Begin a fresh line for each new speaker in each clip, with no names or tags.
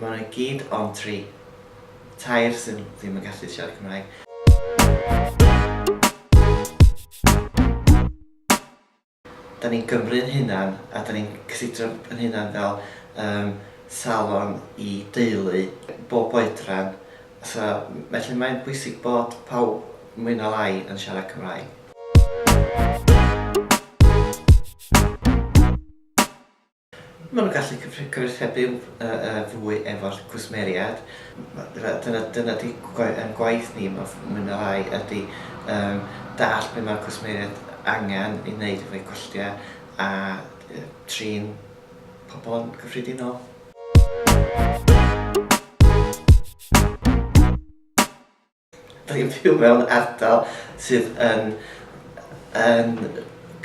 Mae nhw i gyd ond tri. Tair sydd ddim yn gallu siarad Cymraeg. Da ni'n Gymru yn hunan a da ni'n cysidro yn hunan fel um, salon i deulu bob oedran. So, felly mae'n bwysig bod pawb mwy na lai yn siarad Cymraeg. Maen nhw'n gallu cyfathrebu fwy efo'r cwsmeriaid. Dyna ydy ein gwaith ni mwy neu lai ydy dallt be mae'r cwsmeriaid angen i wneud efo'u gwestai a trin pobl yn gyffredinol. Dw i'n byw mewn ardal sydd yn yn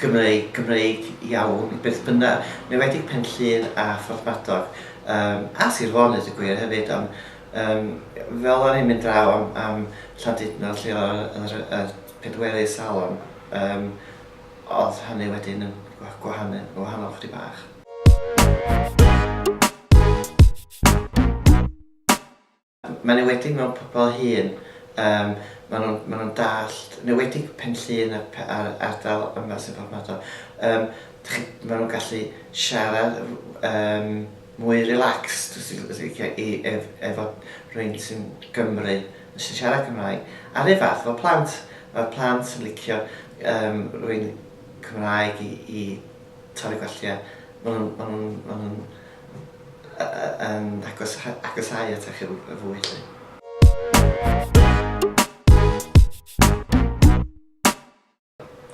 Gymreig Gymreig iawn beth bynnag, yn enwedig Pen-llŷn a Phorthmadog yym a Sir Fôn ddeud y gwir hefyd ond yym fel o'n i'n mynd draw am am Llandudno lle oedd yr yy pedwerydd salon yym oedd hynny wedyn yn gwa- gwahanu- yn wahanol ychydig bach. Mae'n enwedig mewn pobl hŷn, yym ma' nhw'n ma' nhw'n dallt, yn enwedig Pen-llŷn a pe- a'r ardal yma sy'n Porthmadog, yym dach chi, ma' nhw'n gallu siarad yym mwy relaxed os ti'n os ti'n licio i ef- efo rhywun sy'n Gymry yn sy'n siarad Cymraeg. A'r un fath efo plant, ma'r plant yn licio yym rhywun Cymraeg i i torri gwallt ia. Ma' nhw'n ma' nhw'n ma' nhw'n yn agos, agosau atach yn fwy lle.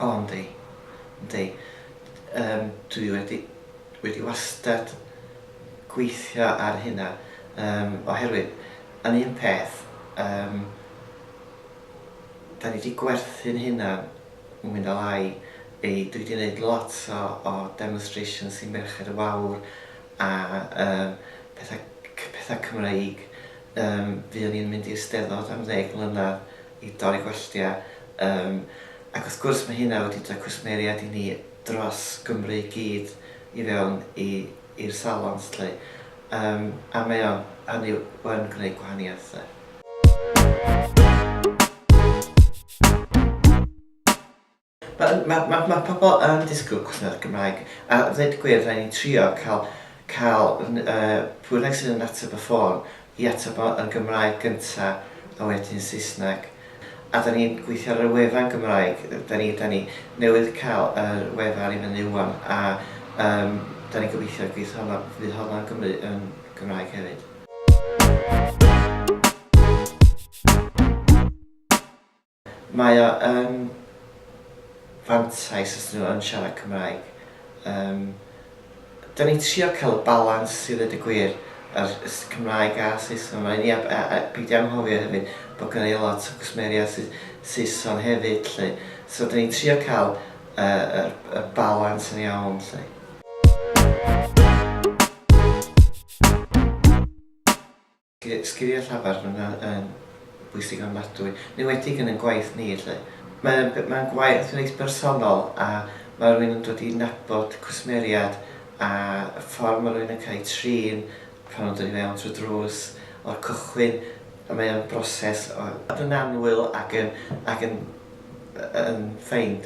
O, yndi. Yndi. Um, dwi wedi, wedi wastad gweithio ar hynna. Um, oherwydd, yn un peth, um, da ni wedi gwerthu'n hynna Wi'n dal ai fi, dwi 'di neud lot o o demonstrations i Merched y Wawr a yym petha c- petha Cymreig yym fuon ni'n mynd i'r Steddfod am ddeg mlynadd i dorri gwalltia yym ac wrth gwrs ma' hynna wedi roi cwsmeriaid i ni dros Gymru i gyd i fewn i i'r salons 'lly, yym, a mae o, hynny yw, yn gwneud gwahaniaeth 'lly. Mae yn, mae, mae, mae pobl yn disgwyl cwsmer Gymraeg, a ddeud y gwir, rhaid ni trio cael, cael, n- yy, pwy bynnag sydd yn ateb y ffôn, i ateb o yn Gymraeg gynta a wedyn Saesneg. A da ni'n gweithio ar y wefan Gymraeg, da ni da ni newydd cael yr wefan i fyny ŵan a yym da ni'n gobeithio fydd honno fydd honno yn Gymru yn Gymraeg hefyd. Mae o yn fantais os 'dyn nhw yn siarad Cymraeg. Yym, 'dan ni'n trio cael y balans i ddeud y gwir, yr s- Cymraeg a Saeson yma i ni a b- a a peidio anghofio hefyd bod gynna ni lot o gwsmeriaid sy Saeson hefyd 'lly. So 'dan ni'n trio cael y y y balans yn iawn 'lly. Sgiliau llafar yn bwysig ofnadwy, yn enwedig yn ein gwaith ni 'lly. Mae'n gwaith reit bersonol a mae rhywun yn dod i nabod cwsmeriad a y ffordd mae rhywun yn cael eu trin pan nhw'n dod i fewn trwy'r drws o'r cychwyn a mae o'n broses o fod yn annwyl ac yn ac yn yn ffeind.